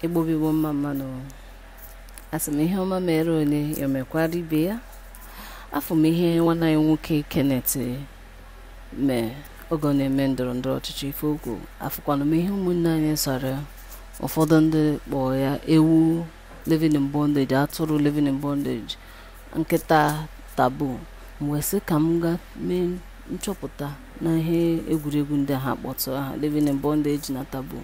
igbo bụ igbo mma mmanụ asị m ihe ọma mere onye ya mekwara ibe ya afụ m ihe nwanne anyị nwoke kenneth mee oge ọ na-eme ndọrọ ndọrọ ọchịchị ife o kwu afụkwana m ihe ụmụnne anyị sara ụfọdụ ndị kpọọ ya ewu living in bondage atụrụ living in bondage nkịta taboo m wee sị ka m ga mee nchọpụta na ihe egwuregwu ndị ha kpọtụ aha living in bondage na taboo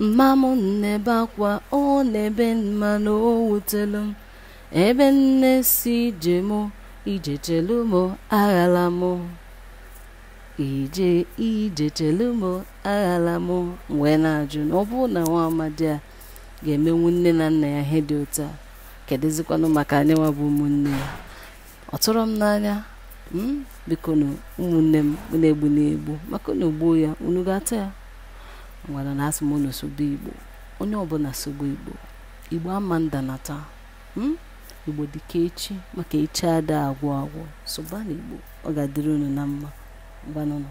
mma m na-ebe akwa ọ na-ebe mma na o wutelu m ebe nne si ije mụ ije chelu m aghala m ije ije chelu m aghala m wee na-ajụ na ọ bụrụ na nwa amadi a ga-emenwu nne na nna ya ihe dị otu a kedụzikwanụ maka anyịnwa bụ ụmụnne ya ọ tụrụ m n'anya m bikonu ụmụnne m unu egbuna egbu maka unu gbuo ya unu ga-ata ya ngwanụnụ asị m unu sobe igbo onye ọbụla sobe igbo igbo ama ndanata igbo dịka echi maka echi ada agwụ agwụ sobanụ igbo ọ ga-adịrị unu na mma ngwanụnụ